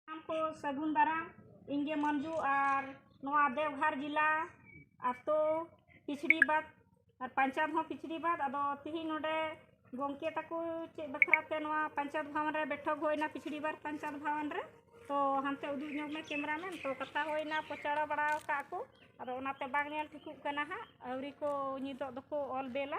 ᱥᱟᱱᱟᱢ ᱠᱚ ᱥᱟᱹᱜᱩᱱ ᱫᱟᱨᱟᱢ ᱤᱧ ᱜᱮ ᱢᱟᱹᱱᱡᱩ ᱟᱨ ᱱᱚᱣᱟ ᱫᱮᱣᱜᱷᱟᱨ ᱡᱮᱞᱟ ᱟᱛᱳ ᱠᱤᱪᱷᱲᱤ ᱵᱟᱫᱽ ᱟᱨ ᱯᱚᱧᱪᱟᱭᱮᱛ ᱦᱚᱸ ᱠᱤᱪᱷᱲᱤ ᱵᱟᱫᱽ ᱟᱫᱚ ᱛᱤᱦᱤᱧ ᱱᱚᱰᱮ ᱜᱚᱢᱠᱮ ᱛᱟᱠᱚ ᱪᱮᱫ ᱵᱟᱠᱷᱨᱟ ᱛᱮ ᱱᱚᱣᱟ ᱯᱚᱧᱪᱟᱭᱮᱛ ᱵᱷᱚᱵᱚᱱ ᱨᱮ ᱵᱮᱴᱷᱚᱠ ᱦᱩᱭᱱᱟ ᱠᱤᱪᱷᱲᱤ ᱵᱟᱫᱽ ᱯᱚᱧᱪᱟᱭᱮᱛ ᱵᱷᱚᱵᱚᱱ ᱨᱮ ᱛᱚ ᱦᱟᱱᱛᱮ ᱩᱫᱩᱜ ᱧᱚᱜᱽ ᱢᱮ ᱠᱮᱢᱮᱨᱟ ᱢᱮᱱ ᱛᱚ ᱠᱟᱛᱷᱟ ᱦᱩᱭᱱᱟ ᱯᱚᱪᱟᱲᱟ ᱵᱟᱲᱟ ᱟᱠᱟᱫ ᱠᱚ ᱟᱫᱚ ᱚᱱᱟᱛᱮ ᱵᱟᱝ ᱧᱮᱞ ᱴᱷᱤᱠᱚᱜ ᱠᱟᱱᱟ ᱦᱟᱸᱜ ᱟᱹᱣᱨᱤ ᱠᱚ ᱱᱤᱛᱳᱜ ᱫᱚᱠᱚ ᱚᱞ ᱵᱮᱞᱟ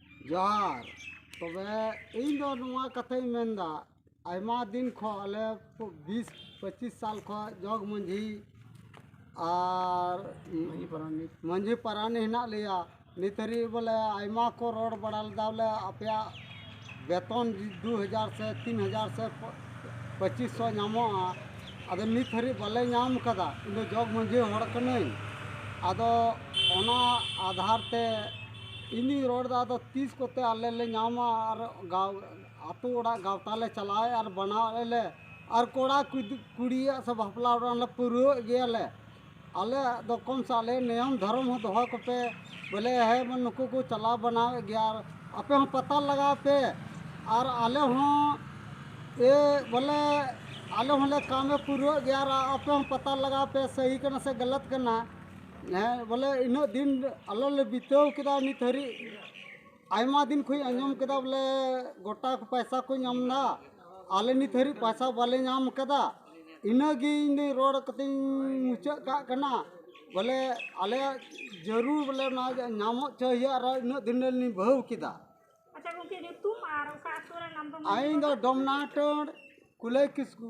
ᱡᱚᱦᱟᱨ ᱛᱚᱵᱮ ᱤᱧ ᱫᱚ ᱱᱚᱣᱟ ᱠᱟᱛᱷᱟᱧ ᱢᱮᱱᱫᱟ ᱟᱭᱢᱟ ᱫᱤᱱ ᱠᱷᱚᱱ ᱟᱞᱮ ᱵᱤᱥ ᱯᱚᱸᱪᱤᱥ ᱥᱟᱞ ᱠᱷᱚᱱ ᱡᱚᱜᱽ ᱢᱟᱺᱡᱷᱤ ᱟᱨ ᱢᱟᱺᱡᱷᱤ ᱯᱟᱨᱟᱱᱤᱠ ᱢᱟᱺᱡᱷᱤ ᱯᱟᱨᱟᱱᱤᱠ ᱦᱮᱱᱟᱜ ᱞᱮᱭᱟ ᱱᱤᱛ ᱦᱟᱹᱨᱤᱡ ᱵᱚᱞᱮ ᱟᱭᱢᱟ ᱠᱚ ᱨᱚᱲ ᱵᱟᱲᱟ ᱞᱮᱫᱟ ᱵᱚᱞᱮ ᱟᱯᱮᱭᱟᱜ ᱵᱮᱛᱚᱱ ᱫᱩ ᱦᱟᱡᱟᱨ ᱥᱮ ᱛᱤᱱ ᱦᱟᱡᱟᱨ ᱥᱮ ᱯᱚᱸᱪᱤᱥ ᱥᱚ ᱧᱟᱢᱚᱜᱼᱟ ᱟᱫᱚ ᱱᱤᱛ ᱦᱟᱹᱨᱤᱡ ᱵᱟᱞᱮ ᱧᱟᱢ ᱠᱟᱫᱟ ᱤᱧ ᱫᱚ ᱡᱚᱜᱽ ᱢᱟᱺᱡᱷᱤ ᱦᱚᱲ ᱠᱟᱹᱱᱟᱹᱧ ᱟᱫᱚ ᱚᱱᱟ ᱟᱫᱷᱟᱨ ᱛᱮ ᱤᱧᱤᱧ ᱨᱚᱲ ᱫᱟ ᱟᱫᱚ ᱛᱤᱥ ᱠᱚᱛᱮ ᱟᱞᱮ ᱞᱮ ᱧᱟᱢᱟ ᱟᱨ ᱜᱟᱶ ᱟᱛᱳ ᱚᱲᱟᱜ ᱜᱟᱶᱛᱟ ᱞᱮ ᱪᱟᱞᱟᱣᱮᱫ ᱟᱨ ᱵᱟᱱᱟᱣᱮᱫ ᱟᱞᱮ ᱟᱨ ᱠᱚᱲᱟ ᱠᱩᱲᱤᱭᱟᱜ ᱥᱮ ᱵᱟᱯᱞᱟ ᱚᱲᱟᱜ ᱦᱚᱸᱞᱮ ᱯᱩᱨᱟᱹᱣᱮᱫ ᱜᱮᱭᱟᱞᱮ ᱟᱞᱮᱭᱟᱜ ᱫᱚ ᱠᱚᱢ ᱥᱮ ᱟᱞᱮ ᱱᱤᱭᱚᱢ ᱫᱷᱚᱨᱚᱢ ᱦᱚᱸ ᱫᱚᱦᱚᱭ ᱠᱚᱯᱮ ᱵᱚᱞᱮ ᱦᱮᱸ ᱢᱟ ᱱᱩᱠᱩ ᱠᱚ ᱪᱟᱞᱟᱣ ᱵᱟᱱᱟᱣᱮᱫ ᱜᱮᱭᱟ ᱟᱨ ᱟᱯᱮ ᱦᱚᱸ ᱯᱟᱛᱟ ᱞᱟᱜᱟᱣ ᱯᱮ ᱟᱨ ᱟᱞᱮ ᱦᱚᱸ ᱮ ᱵᱚᱞᱮ ᱟᱞᱮ ᱦᱚᱸᱞᱮ ᱠᱟᱢᱮ ᱯᱩᱨᱟᱹᱣᱮᱫ ᱜᱮᱭᱟ ᱟᱨ ᱟᱯᱮ ᱦᱚᱸ ᱯᱟᱛᱟ ᱞᱟᱜᱟᱣ ᱯᱮ ᱥᱟᱹᱦᱤ ᱠᱟᱱᱟ ᱥᱮ ᱜᱟᱞᱟᱛ ᱠᱟᱱᱟ ᱦᱮᱸ ᱵᱚᱞᱮ ᱤᱱᱟᱹᱜ ᱫᱤᱱ ᱟᱞᱮ ᱞᱮ ᱵᱤᱛᱟᱹᱣ ᱠᱮᱫᱟ ᱱᱤᱛ ᱦᱟᱹᱨᱤᱡ ᱟᱭᱢᱟ ᱫᱤᱱ ᱠᱷᱚᱱ ᱟᱸᱡᱚᱢ ᱠᱮᱫᱟ ᱵᱚᱞᱮ ᱜᱚᱴᱟ ᱯᱚᱭᱥᱟ ᱠᱚ ᱧᱟᱢ ᱮᱫᱟ ᱟᱞᱮ ᱱᱤᱛ ᱦᱟᱹᱨᱤᱡ ᱯᱚᱭᱥᱟ ᱵᱟᱞᱮ ᱧᱟᱢ ᱠᱟᱫᱟ ᱤᱱᱟᱹᱜᱮ ᱤᱧ ᱫᱚ ᱨᱚᱲ ᱠᱟᱛᱮᱧ ᱢᱩᱪᱟᱹᱫ ᱠᱟᱜ ᱠᱟᱱᱟ ᱵᱚᱞᱮ ᱟᱞᱮᱭᱟᱜ ᱡᱟᱹᱨᱩᱲ ᱵᱚᱞᱮ ᱚᱱᱟ ᱧᱟᱢᱚᱜ ᱪᱚᱭ ᱦᱩᱭᱩᱜᱼᱟ ᱟᱨ ᱤᱱᱟᱹᱜ ᱫᱤᱱ ᱨᱮᱞᱤᱧ ᱵᱤᱵᱟᱹᱣ ᱠᱮᱫᱟ ᱟᱪᱪᱷᱟ ᱜᱚᱢᱠᱮ ᱧᱩᱛᱩᱢ ᱟᱨ ᱚᱠᱟ ᱟᱹᱛᱩ ᱨᱮᱱ ᱟᱢ ᱫᱚ ᱤᱧ ᱫᱚ ᱰᱚᱢᱱᱟᱴᱚᱲ ᱠᱩᱞᱟᱹᱭ ᱠᱤᱥᱠᱩ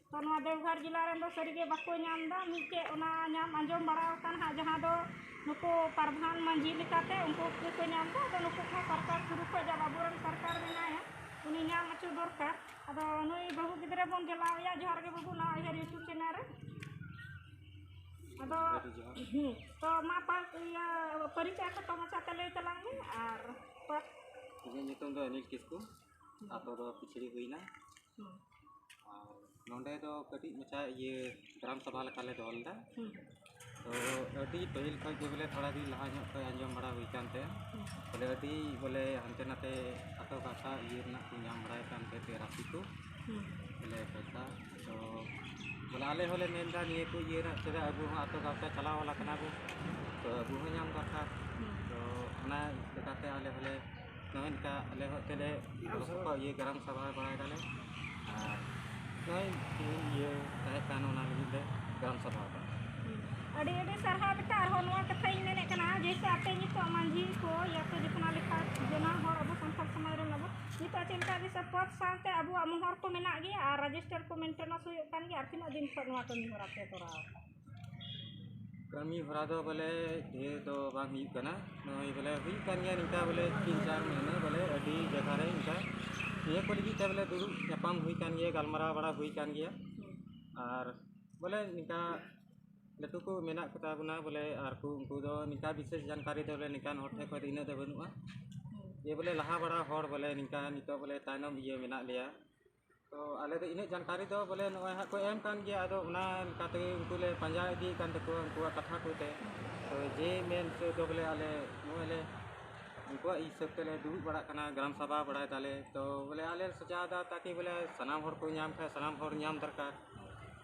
ᱛᱚ ᱱᱚᱣᱟ ᱫᱮᱣᱜᱷᱚᱨ ᱡᱮᱞᱟ ᱨᱮᱱ ᱫᱚ ᱥᱟᱹᱨᱤ ᱜᱮ ᱵᱟᱠᱚ ᱧᱟᱢ ᱮᱫᱟ ᱢᱤᱫᱴᱮᱡ ᱚᱱᱟ ᱧᱟᱢ ᱟᱸᱡᱚᱢ ᱵᱟᱲᱟ ᱟᱠᱟᱱ ᱦᱟᱸᱜ ᱡᱟᱦᱟᱸ ᱫᱚ ᱱᱩᱠᱩ ᱯᱨᱚᱫᱷᱟᱱ ᱢᱟᱹᱡᱷᱤ ᱞᱮᱠᱟᱛᱮ ᱩᱱᱠᱩ ᱜᱮᱠᱚ ᱧᱟᱢ ᱮᱫᱟ ᱟᱫᱚ ᱱᱩᱠᱩ ᱠᱚᱦᱚᱸ ᱥᱚᱨᱠᱟᱨ ᱥᱩᱨᱩ ᱠᱷᱚᱱ ᱡᱟᱦᱟᱸ ᱵᱟᱹᱵᱩ ᱨᱮᱱ ᱥᱚᱨᱠᱟᱨ ᱢᱮᱱᱟᱭᱟ ᱩᱱᱤ ᱧᱟᱢ ᱦᱚᱪᱚ ᱫᱚᱨᱠᱟᱨ ᱟᱫᱚ ᱱᱩᱭ ᱵᱟᱹᱦᱩ ᱜᱤᱫᱽᱨᱟᱹ ᱵᱚᱱ ᱡᱮᱞᱟᱣ ᱮᱭᱟ ᱡᱚᱦᱟᱨ ᱜᱮ ᱵᱟᱹᱵᱩ ᱱᱚᱣᱟ ᱩᱭᱦᱟᱹᱨ ᱤᱭᱩᱴᱩᱵᱽ ᱪᱮᱱᱮᱞ ᱨᱮ ᱟᱫᱚ ᱦᱮᱸ ᱛᱚ ᱢᱟ ᱯᱟᱥ ᱤᱭᱟᱹ ᱯᱚᱨᱤᱪᱚᱭ ᱠᱷᱟᱴᱚ ᱢᱟᱪᱷᱟᱛᱮ ᱞᱟᱹᱭ ᱛᱟᱞᱟᱝ ᱢᱮ ᱟᱨ ᱯᱟᱥ ᱤᱧᱟᱹᱜ ᱧᱩᱛᱩᱢ ᱫᱚ ᱚᱱᱤᱞ ᱠᱤᱥᱠᱩ ᱟᱛᱳ ᱫᱚ ᱯᱤᱪᱷᱲᱤ ᱦᱩᱭᱱᱟ ᱱᱚᱰᱮ ᱫᱚ ᱠᱟᱹᱴᱤᱡ ᱢᱟᱪᱷᱟ ᱤᱭᱟᱹ ᱜᱨᱟᱢ ᱥᱚᱵᱷᱟ ᱞᱮᱠᱟ ᱞᱮ ᱫᱚᱦᱚ ᱞᱮᱫᱟ ᱛᱚ ᱟᱹᱰᱤ ᱯᱟᱹᱦᱤᱞ ᱠᱷᱚᱱ ᱜᱮ ᱵᱚᱞᱮ ᱛᱷᱚᱲᱟ ᱫᱤᱱ ᱞᱟᱦᱟ ᱧᱚᱜ ᱠᱷᱚᱱ ᱟᱸᱡᱚᱢ ᱵᱟᱲᱟ ᱦᱩᱭ ᱟᱠᱟᱱ ᱛᱟᱦᱮᱸᱫ ᱵᱚᱞᱮ ᱟᱹᱰᱤ ᱵᱚᱞᱮ ᱦᱟᱱᱛᱮ ᱱᱟᱛᱮ ᱟᱛᱳ ᱜᱟᱶᱛᱟ ᱤᱭᱟᱹ ᱨᱮᱱᱟᱜ ᱠᱚ ᱧᱟᱢ ᱵᱟᱲᱟᱭᱮᱫ ᱠᱟᱱ ᱛᱟᱦᱮᱸᱫ ᱛᱮ ᱨᱟᱥᱤ ᱠᱚ ᱵᱚᱞᱮ ᱯᱚᱭᱥᱟ ᱛᱚ ᱵᱚᱞᱮ ᱟᱞᱮ ᱦᱚᱸᱞᱮ ᱢᱮᱱ ᱮᱫᱟ ᱱᱤᱭᱟᱹ ᱠᱚ ᱤᱭᱟᱹ ᱨᱮᱱᱟᱜ ᱪᱮᱫᱟᱜ ᱟᱵᱚ ᱦᱚᱸ ᱟᱛᱳ ᱜᱟᱶᱛᱟ ᱪᱟᱞᱟᱣ ᱵᱟᱞᱟ ᱠᱟᱱᱟ ᱵᱚᱱ ᱛᱚ ᱟᱵᱚ ᱦᱚᱸ ᱧᱟᱢ ᱫᱚᱨᱠᱟᱨ ᱛᱚ ᱚᱱᱟ ᱞᱮᱠᱟᱛᱮ ᱟᱞᱮ ᱦᱚᱸᱞᱮ ᱱᱚᱜᱼᱚᱭ ᱱᱚᱝᱠᱟ ᱟᱞᱮ ᱦᱚᱸ ᱮᱱᱛᱮᱫ ᱞᱮ ᱜᱚᱲᱚ ᱥᱚᱯᱚᱦᱚᱫ ᱤᱭᱟᱹ ᱜᱟᱨᱟᱢ ᱥᱟᱵᱟ ᱵᱟᱲᱟᱭ ᱫᱟᱞᱮ ᱟᱨ ᱱᱚᱜᱼᱚᱭ ᱛᱮᱦᱮᱧ ᱤᱭᱟᱹ ᱛᱟᱦᱮᱸ ᱠᱟᱱ ᱚᱱᱟ ᱞᱟᱹᱜᱤᱫ ᱞᱮ ᱜᱟᱨᱟᱢ ᱥᱟᱵᱟ ᱟᱠᱟᱱᱟ ᱟᱹᱰᱤ ᱟᱹᱰᱤ ᱥᱟᱨᱦᱟᱣ ᱵᱮᱴᱟ ᱟᱨᱦᱚᱸ ᱱᱚᱣᱟ ᱠᱟᱛᱷᱟᱧ ᱢᱮᱱᱮᱫ ᱠᱟᱱᱟ ᱡᱮᱭᱥᱮ ᱟᱯᱮ ᱱᱤᱛᱚᱜ ᱢᱟᱺᱡᱷᱤ ᱠᱚ ᱭᱟ ᱯᱮ ᱡᱚᱛᱱᱟ ᱞᱮᱠᱷᱟᱱ ᱡᱚᱱᱟ ᱦᱚᱲ ᱟᱵᱚ ᱥᱟᱱᱛᱟᱲ ᱥᱚᱢᱟᱡᱽ ᱨᱮᱱ ᱟᱵᱚ ᱱᱤᱛᱚᱜ ᱪᱮᱫ ᱞᱮᱠᱟ ᱡᱮᱭᱥᱮ ᱯᱚᱫᱽ ᱥᱟᱶᱛᱮ ᱟᱵᱚᱣᱟᱜ ᱢᱚᱦᱚᱨ ᱠᱚ ᱢᱮᱱᱟᱜ ᱜᱮᱭᱟ ᱟᱨ ᱨᱮᱡᱤᱥᱴᱟᱨ ᱠᱚ ᱢᱮᱱᱴᱮᱱᱮᱱᱥ ᱦᱩᱭᱩᱜ ᱠᱟᱱ ᱜᱮᱭᱟ ᱟᱨ ᱛᱤᱱᱟᱹᱜ ᱫᱤᱱ ᱠᱷᱚᱱ ᱱᱚᱣᱟ ᱠᱟᱹᱢᱤ ᱦᱚᱨᱟ ᱯᱮ ᱠᱚᱨᱟᱣ ᱮᱫᱟ ᱠᱟᱹᱢᱤ ᱦᱚᱨᱟ ᱫᱚ ᱵᱚᱞᱮ ᱰᱷᱮᱨ ᱫᱚ ᱵᱟᱝ ᱦᱩᱭᱩᱜ ᱠᱟᱱᱟ ᱱᱚᱜᱼᱚᱸᱭ ᱵᱚᱞᱮ ᱦᱩᱭᱩᱜ ᱠᱟᱱ ᱜᱮᱭᱟ ᱱᱤᱝᱠᱟ ᱵᱚᱞᱮ ᱛᱤᱱ ᱪᱟᱨ ᱢᱟᱹᱦᱱᱟᱹ ᱵᱚᱞᱮ ᱟᱹᱰᱤ ᱡᱟᱭᱜᱟ ᱨᱮ ᱚᱱᱠᱟ ᱱᱤᱭᱟᱹ ᱠᱚ ᱞᱟᱹᱜᱤᱫ ᱛᱮ ᱵᱚᱞᱮ ᱫᱩᱲᱩᱵ ᱧᱟᱯᱟᱢ ᱦᱩᱭ ᱠᱟᱱ ᱜᱮᱭᱟ ᱜᱟᱞᱢᱟᱨᱟᱣ ᱵᱟᱲᱟ ᱦᱩᱭ ᱠᱟᱱ ᱜᱮᱭᱟ ᱟᱨ ᱵᱚᱞᱮ ᱱᱤᱝᱠᱟ ᱞᱟᱹᱴᱩ ᱠᱚ ᱢᱮᱱᱟᱜ ᱠᱚᱛᱟ ᱵᱚᱱᱟ ᱵᱚᱞᱮ ᱟᱨ ᱠᱚ ᱩᱱᱠᱩ ᱫᱚ ᱱᱤᱝᱠᱟ ᱵᱤᱥᱮᱥ ᱡᱟᱱᱠᱟᱨᱤ ᱫᱚ ᱵᱚᱞᱮ ᱱᱤᱝᱠᱟᱱ ᱦᱚᱲ ᱴᱷᱮᱱ ᱠᱷᱚᱱ ᱫᱚ ᱤᱱᱟᱹᱜ ᱫᱚ ᱵᱟᱹᱱᱩᱜᱼᱟ ᱡᱮ ᱵᱚᱞᱮ ᱞᱟᱦᱟ ᱵᱟᱲᱟ ᱦᱚᱲ ᱵᱚᱞᱮ ᱱᱤᱝᱠᱟ ᱱᱤᱛᱚᱜ ᱵᱚᱞᱮ ᱛᱟᱭᱱᱚᱢ ᱤᱭᱟᱹ ᱢᱮᱱᱟᱜ ᱞᱮᱭᱟ ᱛᱚ ᱟᱞᱮ ᱫᱚ ᱤᱱᱟᱹᱜ ᱡᱟᱱᱠᱟᱨᱤ ᱫᱚ ᱵᱚᱞᱮ ᱱᱚᱜᱼᱚᱭ ᱦᱟᱸᱜ ᱠᱚ ᱮᱢ ᱠᱟᱱ ᱜᱮᱭᱟ ᱟᱫᱚ ᱚᱱᱟ ᱞᱮᱠᱟ ᱛᱮᱜᱮ ᱩᱱᱠᱩ ᱞᱮ ᱯᱟᱸᱡᱟ ᱤᱫᱤᱭᱮᱫ ᱠᱟᱱ ᱛᱟᱠᱚᱣᱟ ᱩᱱᱠᱩᱣᱟᱜ ᱠᱟᱛᱷᱟ ᱠᱚᱛᱮ ᱛᱚ ᱡᱮ ᱢᱮᱱ ᱦᱚᱪᱚ ᱫᱚ ᱵᱚᱞᱮ ᱟᱞᱮ ᱱᱚᱜᱼᱚᱭ ᱞᱮ ᱩᱱᱠᱩᱣᱟᱜ ᱦᱤᱥᱟᱹᱵᱽ ᱛᱮᱞᱮ ᱫᱩᱲᱩᱵ ᱵᱟᱲᱟᱜ ᱠᱟᱱᱟ ᱜᱨᱟᱢ ᱥᱚᱵᱷᱟ ᱵᱟᱲᱟᱭ ᱫᱟᱞᱮ ᱛᱚ ᱵᱚᱞᱮ ᱟᱞᱮ ᱞᱮ ᱥᱟᱡᱟᱣᱫᱟ ᱛᱟᱠᱤ ᱵᱚᱞᱮ ᱥᱟᱱᱟᱢ ᱦᱚᱲ ᱠᱚ ᱧᱟᱢ ᱠᱷᱟᱱ ᱥᱟᱱᱟᱢ ᱦᱚᱲ ᱧᱟᱢ ᱫᱚᱨᱠᱟᱨ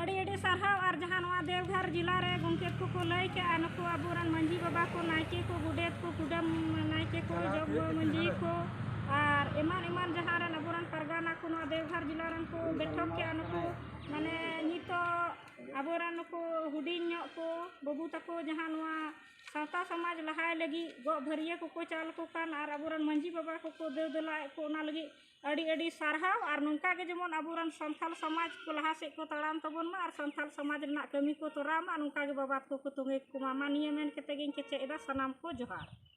ᱟᱹᱰᱤ ᱟᱹᱰᱤ ᱥᱟᱨᱦᱟᱣ ᱟᱨ ᱡᱟᱦᱟᱸ ᱱᱚᱣᱟ ᱫᱮᱣᱜᱷᱚᱨ ᱡᱮᱞᱟ ᱨᱮ ᱜᱚᱢᱠᱮ ᱠᱚᱠᱚ ᱞᱟᱹᱭ ᱠᱮᱜᱼᱟ ᱱᱩᱠᱩ ᱟᱵᱚᱨᱮᱱ ᱢᱟᱺᱡᱷᱤ ᱵᱟᱵᱟ ᱠᱚ ᱱᱟᱭᱠᱮ ᱠᱚ ᱜᱚᱰᱮᱛ ᱠᱚ ᱠᱩᱰᱟᱹᱢ ᱱᱟᱭᱠᱮ ᱠᱚ ᱡᱚᱜᱽ ᱢᱟᱺᱡᱷᱤ ᱠᱚ ᱟᱨ ᱮᱢᱟᱱ ᱮᱢᱟᱱ ᱡᱟᱦᱟᱸ ᱨᱮᱱ ᱟᱵᱚᱨᱮᱱ ᱯᱟᱨᱜᱟᱱᱟ ᱠᱚ ᱱᱚᱣᱟ ᱫᱮᱣᱜᱷᱚᱨ ᱡᱮᱞᱟ ᱨᱮᱱ ᱠᱚ ᱵᱮᱴᱷᱚᱠ ᱠᱮᱜᱼᱟ ᱱᱩᱠᱩ ᱢᱟᱱᱮ ᱱᱤᱛᱳᱜ ᱟᱵᱚᱨᱮᱱ ᱱᱩᱠᱩ ᱦᱩᱰᱤᱧ ᱧᱚᱜ ᱠᱚ ᱵᱟᱹᱵᱩ ᱛᱟᱠᱚ ᱡᱟᱦᱟᱸ ᱱᱚᱣᱟ ᱥᱟᱶᱛᱟ ᱥᱚᱢᱟᱡᱽ ᱞᱟᱦᱟᱭ ᱞᱟᱹᱜᱤᱫ ᱜᱚᱜ ᱵᱷᱟᱹᱨᱭᱟᱹ ᱠᱚᱠᱚ ᱪᱟᱞ ᱟᱠᱚ ᱠᱟᱱ ᱟᱨ ᱟᱵᱚᱨᱮᱱ ᱢᱟᱺᱡᱷᱤ ᱵᱟᱵᱟ ᱠᱚᱠᱚ ᱫᱮᱣ ᱫᱮᱞᱟᱭᱮᱫ ᱠᱚ ᱚᱱᱟ ᱞᱟᱹᱜᱤᱫ ᱟᱹᱰᱤ ᱟᱹᱰᱤ ᱥᱟᱨᱦᱟᱣ ᱟᱨ ᱱᱚᱝᱠᱟ ᱜᱮ ᱡᱮᱢᱚᱱ ᱟᱵᱚᱨᱮᱱ ᱥᱟᱱᱛᱟᱲ ᱥᱚᱢᱟᱡᱽ ᱠᱚ ᱞᱟᱦᱟ ᱥᱮᱫ ᱠᱚ ᱛᱟᱲᱟᱢ ᱛᱟᱵᱚᱱ ᱢᱟ ᱟᱨ ᱥᱟᱱᱛᱟᱲ ᱥᱚᱢᱟᱡᱽ ᱨᱮᱱᱟᱜ ᱠᱟᱹᱢᱤ ᱠᱚ ᱛᱚᱨᱟᱣ ᱢᱟ ᱱᱚᱝᱠᱟ ᱜᱮ ᱵᱟᱵᱟ ᱛᱟᱠᱚ ᱠᱚ ᱛᱚᱸᱜᱮ ᱠᱚᱢᱟ ᱢᱟ ᱱᱤᱭᱟᱹ ᱢᱮᱱ ᱠᱟᱛᱮᱫ ᱜᱤᱧ ᱠᱮᱪᱮᱫ ᱮᱫᱟ ᱥᱟᱱᱟᱢ ᱠᱚ ᱡᱚᱦᱟᱨ